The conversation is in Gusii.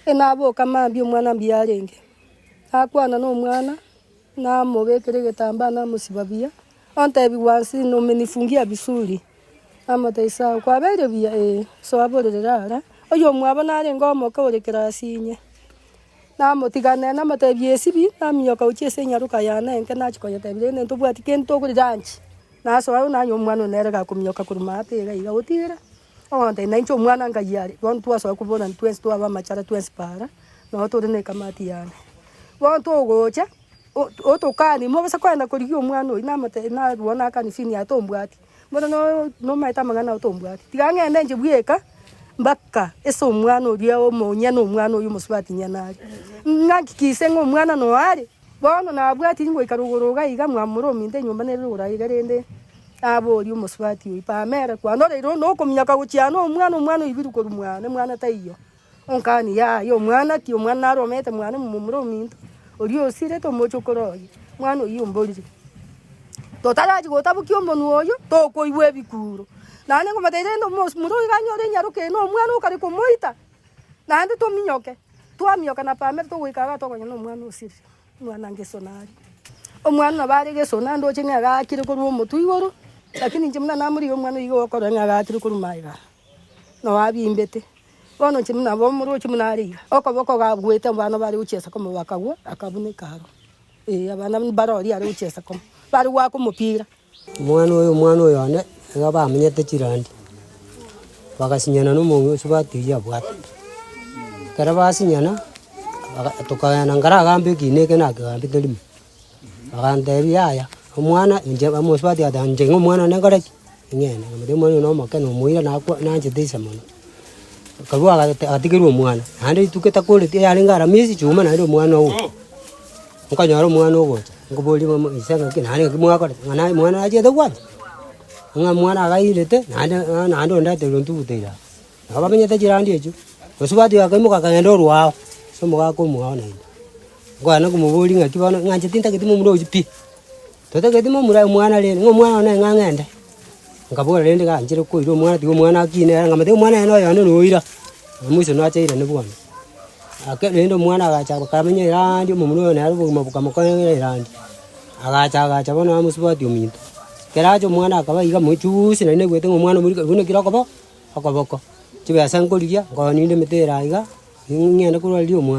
Naboka mambia omwana mbiyarenge, nakwana nomwana, namobekera egetambaa namosiba buya, ontebigwa nsi nomenifungia vizuri, namotebia sawa, kwabeire buya? Ee, soa borere ara, oyomwabo narenge omoke ore class inye, namotiganera namotebia esibi, naminyoka gochia ase enyaroka yane enke nachia koyetebia rende ntobwati kende tokori lunch, nasoa nanywa omwana one nere gakominyoka korwa maate iga iga gotigera. Ogontainia nainche omwana ngai are, bono twasoa koburana twensi twabe amachara twensi para, nonya tore ne ekamati yane. Bono togocha, o- otokani mogose kogenda korigia omwana oyio namote narwo nakani sini yaye tombwati, bono no- nomaete amang'ana ao tombwati. Tiga ng'ende inche bweka mpaka ase omwana oria omonye na omwana oyio omosubati nyene are. Ng'aki kise ng'a omwana noyo are, Bono nabwati ingoika rogoro iga iga mwamura ominto enyomba nere rogoro aye iga rende naborie omosubati oyio, Pamela, kwanoreire onde okominyoka gochia ano omwana, omwana oibiru korwa mwane, mwana taiyo? Onkani, Yaya, omwana ki? Omwana naro omete mwane momomura ominto oria osirete omoche okoro oye, mwana oyio omborire. Totarachi gotabokia omonwa oyio, tokoigwa ebikuro. Naende nkomotebi rende omosmura oyo iga anyore enyaroka eye na omwana okare komoita, Naende tominyoke, twaminyoka na Pamela togoika iga tokonya nomwana o Siri, omwana Ngeso nare. Omwana nabo are Geso, na ndoche ng'a agaakire korwa omotwe igoro, lakini inche buna namorigia omwana oyo iga okorora ng'a agaakire korwa magega, nao abimbete. Bono inche buna omorochi buna are iga, okoboko gabwete abana bare gochiesa kobua bakagwa, akabuneka aroro. Ee, abana mbare oria are gochiesa kobua, bare goaka omopira. Omwana oyo, omwana oyo one, iga bamenyete chirandi, bagasinyana na omonge oso batigia abwate. Ekero basinyana, baga tokagenda nkare agambe ekiina eke nakegambete rimo, bagantebia yaya, omwana inche bamonsi batigati inche ng'a omwana one nkore ki? Ing'ee, naende omwana oyo nomoke, nomoira nakwa nanchete inse mono. Akarua agate agatigerwa omwana, naende rituko etakoreti yarenge ara miezi chiume naende omwana oo, nkonyora omwana ogocha, nkoboria momo ise ng'aki nare ng'aki mwakorete ng'a naye mwana nachete gwancha, ng'a mwana agairete naende ng'a naende onde aterire ntuguta ira aa. Nabo bamenyete chirandi echio, bosio batuya bakaimoka bakagenda orwa ao, ase omogaka omoao naende. Nkoenda komoboria ng'aki bono ng'anchete ntagete momura oyio pi. Totageti momura aye omwana rende, ng'a omwana one ng'a ng'ende. Nkabora rende, Ganchire koira omwana, tiga omwana akine ere, nkamanya tiga omwana ere noyo onde noira. Maiso nache aira inde bono. Ake rende omwana agacha bakamenya erandi, omomura oye nere obogima bokamokonyera erandi. Agacha agacha bono amosubati ominto. Ekero acha omwana akaba iga mochuusi naende naigwete ng'a omwana omorika buna ekero okoba okoboko. Chibesa nkorigia, nkoninde emete ere aiga, ng'ende korwa riria omwana.